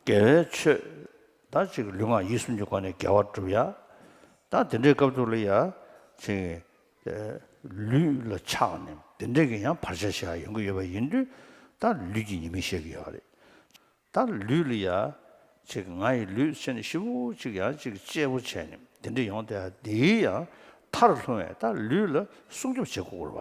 དགེ་བའི་ཆོས། ད་ཅིག་ལུས་ངག་ཡིད་གསུམ་གྱི་སྒོ་ནས་དགེ་བ་བསྒྲུབ། ཡང་དག་དེ་འདྲའི་སྐབས་དུ་ལ་ཡང་ཅིག། ལུས་ལ་ཆགས་ནས་དེ་འདྲས་ཀྱི་ཡང་བར་ཆད་ཞིག་ཡོང་གི་ཡོད་པ་ཡིན་དུས། ད་ལུས་ཀྱི་ཉེས་དམིགས་བཤད་ཀྱི་ཡོད་རེད། ད་ལུས་ལ་ཡང་ཅིག་ང་ཡི་ལུས་ཅན་བཞི་པོ་ཅིག་ཡང་ཅིག་གཅེས་པོ་བྱས་ནས་དེ་འདྲས་ཡོང་དེ་འདིའི་ཡང་མཐར་ལྷུང་བས་ད་ལུས་ལ་སྲུང་སྐྱོབ་བྱེད་དགོས་སྐོར་བ།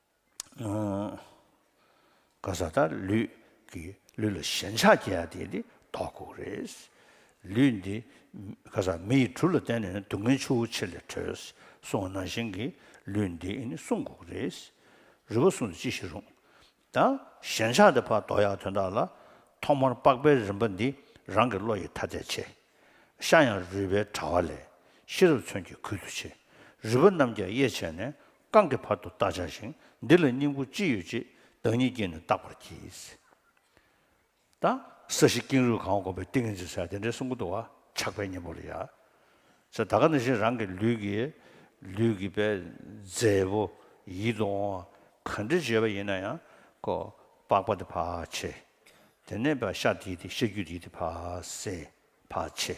ག་ས་དང་ལུས་ཀྱི་ལུས་ལ་ཞེན་ཆགས་སྐྱེ་བ་དེ་ནི་ལྡོག་ལྐུགས་རེད། ལུས་འདི་ག་ས་མི་ཡི་གྲུ་ལ་བརྟེན་ནས་སྡུག་བསྔལ་ཆུ་བོ་ཆེ་ལས་གྲོལ་སོང་བ་ནང་བཞིན་གྱི་ལུས་འདི་ནི་བསྲུང་ལྐུགས་རེད། རུས་པ་སྲུང་དུ་ཅི་ཞིག་རུང། ད་ཞེན་ཆགས་དེ་ཕར་ལྡོག་ཡག་དོན་དག་ལ། ཐོག་མར་ལྤགས་པའི་རིམ་པ་འདི་རང་གི་བློ་ཡི་ཐ་དད་ཆེ། ཤ་ཡང་རུས་པའི་དྲ་བ་ལས་ཤེས་རབ་མཚོན་གྱི་ཁུལ་དུ་ཆེ། རུས་པ་རྣམས་ཀྱང་དབྱེ་བྱས་ནས་རྐང་གི་བར་དུ་བརྟག་བྱ་ཞིང་འདི་ལ་སྙིང་པོ་ཅི་ཡོད་ཅེས་བདག་ཉིད་ཀྱིས་ནི་བརྟག་པར་གྱིས། དང། ས་གཞི་ཀེང་རུས་གང་བ་བསྒོམ་པའི་ཏིང་ངེ་འཛིན་བསལ་དེ་འདྲའི་གསུང་གོ་དུ་བ་ཆགས་པའི་གཉེན་པོ་ལ་ཡང། ས་ད་ག་ནི་བཞིན་རང་གི་ལུས་ཀྱི། ལུས་ཀྱི་པའི། རྫས་བུ། ཡིད་དུ་འོང་བ། ག་འདྲི་བྱེད་པ་ཡིན་ན་ཡང། ཀོ། པགས་པ་དེ་བག་ཕྱེ། དེ་ནས་པའི་ཤ་དེ་ཡི་དེ་ཤ་རྒྱུས་དེ་ཡི་དེ་བག་ཟན། བག་ཕྱེ།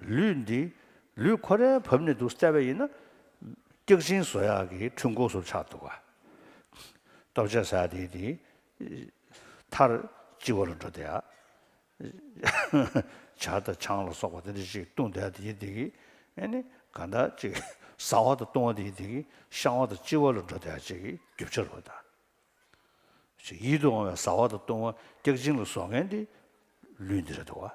ལུས་འདི་ལུས་ཁོ་རའི་བབས་ནས་འདུག་བསྩལ་བས་ཡིན་ན། སྐྱག་ཆིངས་བཟོ་ཡག་གི་འཕྲུལ་འཁོར་སོགས་ཆགས་འདུག་ག། སྟོབས་ཆེན་ཟ་དེ་དེ་མཐར་སྤྱི་བོ་ལ་འགྲོ་བསྡད་ཨ། བྱ་དང་ཆང་ལ་སོགས་པ་དེ་འདྲ་ཞིག་བཏུང་བསྡད་དེ་དེ་གི། ཨེ་ནི་ག་འདྲ་ཅིག་ཟ་བ་དང་བཏུང་བ་དེ་དེ་གི་བཤང་བ་དང་གཅི་བ་ལ་འགྲོ་བསྡད་ཅིག་གི་རྒྱུ་ཆ་རུ་བལྟ། ཞེས་ཡིད་དུ་འོང་བའི་ཟ་བ་དང་བཏུང་བ་སྐྱག་ཆིངས་ལ་བཟོ་མཁན་དེ་ལུས་འདི་རེད་འདུག་ག།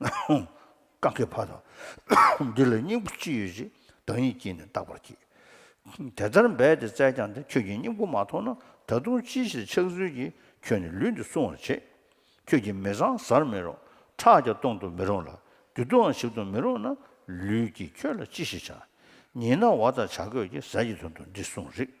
རྐང་གི་བར་དང། འདི་ལ་སྙིང་པོ་ཅི་ཡོད་ཅེས་བདག་ཉིད་ཀྱིས་ནི་བརྟག་པར་གྱིས། དེ་ལྟར་འབད་དེ་བཙལ་ཀྱང་ཏེ་ཁྱོད་ཀྱིས་སྙིང་པོ་མ་མཐོང་ན་ད་དུང་ཅིའི་ཕྱིར་ཆགས་ཚུལ་གྱིས་ཁྱོད་ནི་ལུས་འདི་སྲུང་བར་བྱེད། ཁྱོད་ཀྱིས་མི་བཟང་བཟར་མི་རུང་ཁྲག་ཀྱང་གཏོང་དུ་མི་རུང་ལ་བདུད་དུའང་ཞིག་ཏུ་མི་རུང་ན་ལུས་ཀྱིས་ཁྱོད་ལ་ཅི་ཞིག་བྱ། ཉིན་ན་བ་དང་བྱ་རྒོད་ཀྱི་ཟས་ཀྱི་དོན་དུ་འདི་སྲུང་རིགས།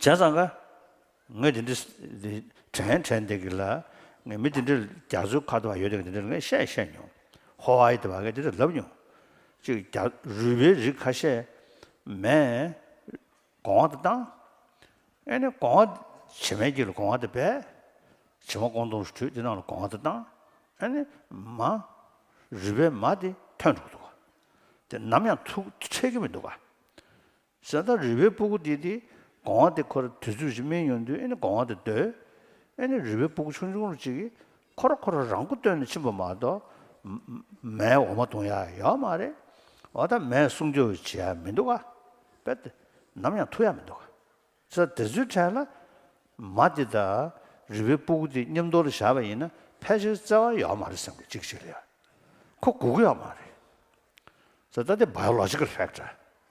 བྱས་ཙང་ཀ། ངས་དེ་འདྲི། དྲན། དྲན་འདི་གི་ལ། ངས་མི་དེ་འདྲི་རྒྱ་མཚོའི་ཁ་དོ་བ་ཡོད་དེ་གི་དེ་འདྲི་ལ་ངས་བཤད་བཤད་མྱོང། ཧོ་ཨའི་དེ་བ་ངས་དེ་འདྲི་ལབ་མྱོང། ཅིག་རྒྱ། རུས་པའི་རིགས་ཁ་ཤས། མས། གོང་བ་དེ་བཏང། ཨེ་ནས་གོང་བ། བྱེ་མའི་དཀྱིལ་ལ་གོང་བ་དེ་སྦས། བྱེ་མ་ཀོང་དུང་ཞིག་དྲུད་དེ་ནང་ལ་གོང་བ་དེ་བཏང། ཨེ་ནས། མ། རུས་པའི་མ་དེ་ཐོན་འདུག་འདུག་ག། དེ་ནམ་ཡང་ཐུག་འཕྲད་ཀྱི་མི་འདུག་ག། ཟེར་ན་རི་བོའི་སྤུ་གུ་འདི་དེ་གོང་བ་དེ་ཁོ་ར་དུས་ཚོད་ཅིག་སྨིན་ཡོང་དུས་ཨེ་ནི་གོང་བ་དེ་སྡོད། ཨེ་ནི་རི་བོའི་སྤུ་གུ་ཆུང་ཆུང་རུ་ཅིག་གིས་ཁོ་ར་ཁོ་ར་རང་མགོ་བཏོན་ནས་ཕྱིན་པ་མ་གཏོགས། མའི་འོ་མ་འཐུང་ཡ་ཡོད་མ་རེད། འོ་ད་མས་སྲུང་སྐྱོབ་བྱེད་ཡ་མི་འདུག་ག། དཔེར་ཏེ། ནམ་ཡང་ཐུག་ཡ་མི་འདུག་ག། ས་དེ་ཚོའི་གྲས་ལ། མ་དེ་དང་རི་བོའི་སྤུ་གུ་དེ་མཉམ་འདོར་ལ་བཞག་པ་ཡིན་ན་ཕལ་ཆེར་བརྩེ་བ་ཡོད་མ་རེད་སེམས་ཀྱི་གཅིག་གཅིག་ལ་ཡ། ཁོ་སྒུག་ཡོད་མ་རེད། ཟེར་ད་དེ Biological Fact རེད།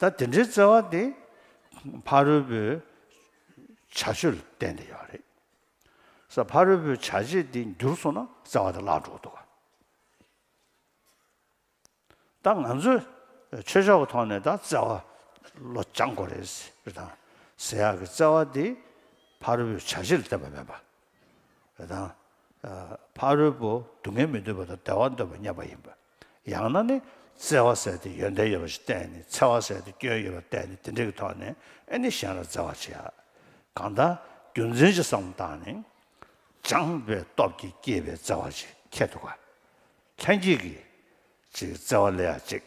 ད་དེ་འདྲའི་བརྩེ་བ་དེ་ཕ་རོལ་པོའི་བྱ་སྤྱོད་ལ་བརྟེན་ཏེ་ཡོད་རེད། ས་ཕ་རོལ་པོའི་བྱ་བྱེད་དེ་འགྱུར་སོང་ན་བརྩེ་བ་དེ་བརླག་འགྲོ་འདུག་ད་ང་ཚོས་ཆོས་ཕྱོགས་ཀྱི་ཐོག་ནས་ད་བརྩེ་བ་བློ་སྦྱང་དགོས་རེད། ཟེར་དང་ཟེར་ཡག་གི་བརྩེ་བ་དེ་ཕ་རོལ་པོའི་བྱ་བྱེད་ལ་བརྟེན་པ་མིན་པ་རེ་དང། ཕ་རོལ་པོ་སྡུག་བསྔལ་མི་འདོད་པ་དང་བདེ་བ་འདོད་པ་སྙམ་པ་ཡིན་པ། ཡང་ན་ནི་བརྩེ་བ་ཟད་དེ་ཡོན་ཏན་ཡོད་པ་ཞིག་བསྟན་ནས་འཚེ་བ་ཟད་དེ་སྐྱོན་ཡོད་པར་བསྟན་ནས་དེ་འདྲ་གི་ཐོག་ནས་ཨེ་ནི་གཞན་ལ་བརྩེ་བར་བྱེད་ཨ། གང་དག་རྒྱུ་མཚན་གྱི་བསམ་བློ་དང་ནི། སྦྱངས་པའི་སྟོབས་ཀྱིས་བསྐྱེད་པའི་བརྩེ་བ་ཅིག་ཁྱེད་དུ་དགའ། ལྷན་སྐྱེས་ཀྱི། ཅིག་བརྩེ་བ་ལས་ཡང་གཅིག།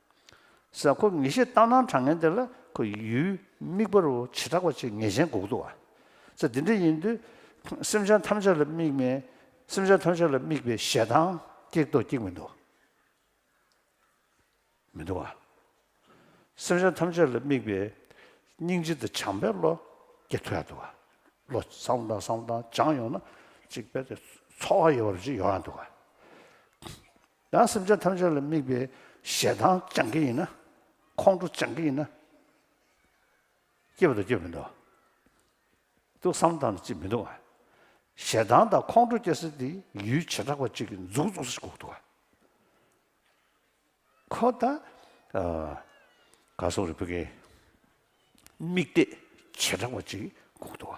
ཟེར། ཁོ་ངེས་ཤེས་ལྟར་སྣང་གྲགས་ངན་དེ་ལ་ཁོ་ཡུལ་དམིགས་པར་བྱེ་བྲག་པ་གཅིག་ངེས་ཅན་འགོག་འདུག་བ། ཚེ་འདི་འདྲ་ཡིན་དུས་སེམས་ཅན་ཐམས་ཅད་ལ་དམིགས་མེད་སེམས་ཅན་ཐམས་ཅད་ལ་དམིགས་པའི་ཞེ་སྡང་སྐྱེག་དོགས་སྐྱེག་མི་འདུག་མི་འདུག་བ། སེམས་ཅན་ཐམས་ཅད་ལ་དམིགས་པའི་སྙིང་རྗེ་དང་བྱམས་པའི་བློ་སྐྱེ་ཐུ་ཡ་འདུག་བ། བློ་བཟང་དང་བཟང་དང་སྦྱངས་ཡོང་ན་གཅིག་དཔེ་དེ་འཚོ་བ་ཡོ་བ་རུ་གཅིག་ཡོང་ཡ་འདུག་བ། ཡང་སེམས་ཅན་ཐམས་ཅད་ལ་དམིགས་པའི་ཞེ་སྡང་སྦྱང་གི་ཡིན་ན། ཁོང་ཁྲོ་སྦྱང་གི་ཡིན་ན། སྐྱེས་པ་དང་སྐྱེས་མི་འདུག། ཏུ་བསམ་དང་ཅིས་མི་འདུག། ཞེ་སྡང་དང་ཁོང་ཁྲོ་སྐྱེ་སེ་དེ་ཡུལ་བྱེ་བྲག་པ་གཅིག་གི་མཛུག་རྫོགས་སུ་གོ་འདུག། ཁོ་ད་ག་སོག་རི་བོ་ཀའི་དམིགས་གཏད་བྱེ་བྲག་པ་གཅིག་གོ་འདུག།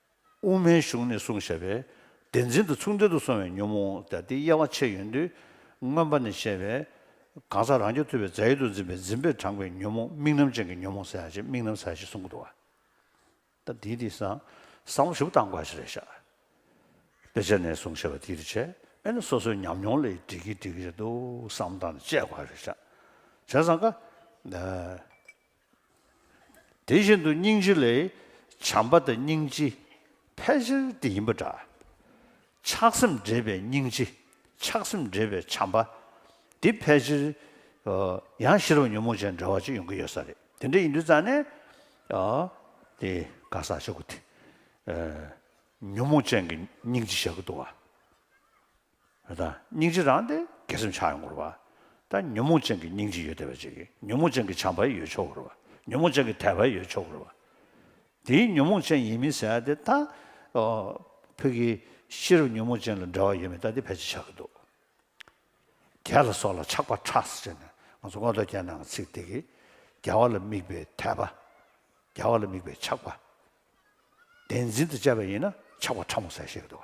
དབུ་མའི་གཞུང་ནས་གསུང་བཤད་པའི་བདེན་འཛིན་དུ་མཚུངས་ལྡན་དུ་སོང་བའི་ཉོན་མོངས་དང་དེའི་དབྱེ་བ་ཕྱེ་ཡོད་དུས། མངོན་པ་ནས་བཤད་པའི་གང་ཟག་རང་རྒྱུད་ཐུབ་པའི་རྫས་ཡོད་དུ་འཛིན་པའི་འཛིན་པས་དྲངས་པའི་ཉོན་མོངས་དམིགས་རྣམ་ཅན་གྱི་ཉོན་མོངས་ས་ཡ་ཞེས་དམིགས་རྣམ་ས་ཡ་ཞེས་གསུང་གི་འདུག་བ། ད་དེའི་དེ་སང་སང་བ་ཞིབ་བཏང་དགོས་ཞེས་རེ་བཞག་དཔེ་ཆ་ནས་གསུང་བཤད་པ་དེའི་རེ་ཆད་ཨེ་ན་སོ་སོའི་ཉམས་མྱོང་ལས་འགྲིག་གི་འགྲིག་གི་རེད་འདུག་བསམ་བཏང་ནས་དཔྱད་དགོས་རེ་བཞག་བྱས་སང་ཀ། དེ་བཞིན་དུ་སྙིང་རྗེ་ལས། བྱམས་པ་དང་སྙིང་རྗེ་ཕལ་ཆེར་དེ་ཡིན་པ་འདྲ། ཆགས་སེམས་འདྲེས་པའི་སྙིང་རྗེ་ཆགས་སེམས་འདྲེས་པའི་བྱམས་པ། འདི་ཕལ་ཆེར། ཡང་ཤེས་རབ་ཉོན་མོངས་ཅན་འདྲ་བ་གཅིག་ཡོང་གི་ཡོད་ས་རེད། དེ་འདྲ་ཡིན་དུས་ཙང་ནས། དེ་ག་ས་ཞོག་གི་དེ། ཉོན་མོངས་ཅན་གྱི་སྙིང་རྗེ་བཞག་གི་འདུག་ཨ། ཡོད་དང་སྙིང་རྗེ་རང་སྟེ་དགེ་སེམས་ཆགས་ཡོང་དགོས་ར་བ་དང་ཉོན་མོངས་ཅན་གྱི་སྙིང་རྗེ་ཡོད་བདེ་བ་ཅན་གྱི་ཉོན་མོངས་ཅན་གྱི་བྱམས་པ་ཡོད་ཆོག་གོ་ར་བ་ཉོན་མོངས་ཅན་གྱི་དད་པ་ཡོད་ཆོག་གོ་ར་བ། དེའི་ཉོན་མོངས་ཅན་ཡིན་མིན་ཟེར་ཡ་དེ་ད་བོད་ཀྱི་ཤེས་རབ་ཉོན་མོངས་ཅན་ལ་འབྲེལ་བ་ཡོད་མེད་ད་དེ་ཕལ་ཆེར་ཆགས་ཀྱི་འདུག་རྒྱལ་ལ་སོགས་ལ་ཆགས་པ་ཁྲགས་སེར་ཅན་ནས་ང་ཚོ་སྔོན་ཐོག་རྒྱལ་ནང་གི་ཚིག་དེ་གིས་རྒྱལ་བ་ལ་དམིགས་པའི་དད་པ་རྒྱལ་བ་ལ་དམིགས་པའི་ཆགས་པ་བདེན་འཛིན་དང་བཅས་པ་ཡིན་ན་ཆགས་པ་ཕྲ་མོ་ཟེར་ཤེས་ཀྱི་འདུག་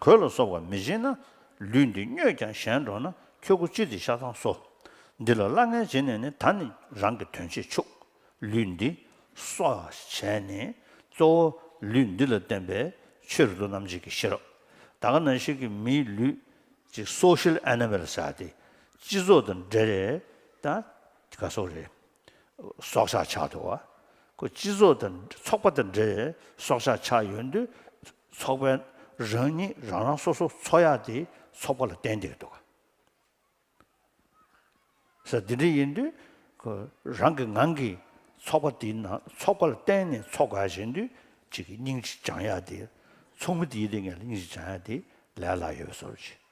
གོས་ལ་སོགས་པ་མི་སྦྱིན་ན། ལུས་འདི་སྨྱོས་ཀྱང་གཞན་འགྲོགས་ན་ཁྱོད་སྐུ་ཅི་སྟེ་ཤ་ཚང་སོ། འདི་ལ་སླ་ངན་བྱེད་ནས་ནི་ད་ནི་རང་གི་དོན་བྱེད་ཆུག། ལུས་འདི། སོགས་བྱས་ནས། གཙོ་བོ་ལུས་འདི་ལ་བརྟེན་པའི་ཕྱིར་དུ་རྣམ་འབྱེད་ཀྱི་ཤེས་རབ། ད་ག་ན་ཞིག་གིས་མིའི་ལུས། ཅིག་སོགས་ཤེལ་ཨེ་ན་མེ་ལ་བྱ་སྟེ། སྤྱི་ཚོགས་དང་འབྲེལ། ད་ག་སོགས་རེད། སྲོག་ཆགས་ཆགས་འདུག་བ། ཁོས་སྤྱི་ཚོགས་དང་ཚོགས་པ་དང་འདྲེས་སྲོག་ཆགས་ཆགས་ཡོད་དུས། ཚོགས་པས་རང་ཉིད་རང་རང་སོ་སོ་འཚོ་ཡག་དེ་ཚོགས་པ་ལ་ཏན་ཏིག་འདུག་ས་དེ་འདྲ་ཡིན་དུས། ཁོས་རང་གི་ངང་གིས་ཚོགས་པ་དེའི་ནང་ཚོགས་པ་ལ་གཏན་ནས་འཚོ་དགའ་བཞིན་དུས་གཅིག་གིས་སྙིང་ཅིག་བྱང་ཡག་དེ། ཚོགས་མི་དེའི་སྡེ་ངས་ལ་སྙིང་ཅིག་བྱང་ཡག་དེ་ལས་སླ་ཡོད་བཟོ་རུ་བྱེད།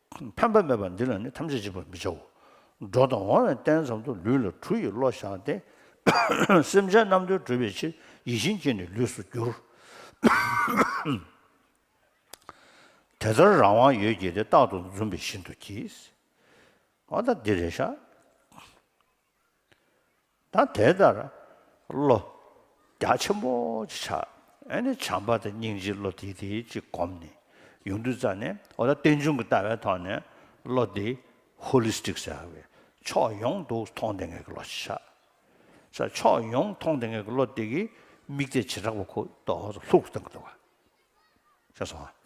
ཕན་པ་མེད་པ་འདི་ལ་ནི་ཐམས་ཅད་འཇིགས་པར་མི་བྱའོ། འགྲོ་དང་འོང་བའི་རྟེན་ཙམ་དུ་ལུས་ལ་གྲུ་ཡི་བློ་བཞག་སྟེ། སེམས་ཅན་རྣམས་དོན་གྲུབ་པའི་ཕྱིར་ཡིད་བཞིན་སྐྱེས་ནས་ལུས་སུ་འགྱུར། དེ་ལྟར་རང་དབང་ཡོད་ཀྱིས་ཏེ་རྟག་ཏུ་འཛུམ་པའི་བཞིན་དུ་གྱིས། མ་དག་འདི་རེ་བཞག། ད་དེ་ལྟར་བློ་རྒྱ་ཆེན་པོ་ཅིག་བྱ། ཨེ་ནས་བྱམས་པ་དང་སྙིང་རྗེའི་བློ་དེ་དེ་ཅིག་བསྒོམས་ནས་ཡུངས་འབྲུ་བཙགས་ནས་འོ་ད་རྟེན་འབྱུང་གི་ལྟ་བའི་ཐོག་ནས་བློ་དེ Holistic ཟེར་བའི་ཕྱོགས་ཡོངས་དུ་མཐོང་ལྡན་ངེས་ཀྱི་བློ་ཞིག་བྱ། ས་ཕྱོགས་ཡོངས་མཐོང་ལྡན་ངེས་ཀྱི་བློ་དེ་གི་དམིགས་གཏད་བྱེ་བྲག་པ་ཁུག་ཏོ་ལྷུག་ཏུ་བཏང་གི་འདུག་བ། ཤེས་སོང་ངམ།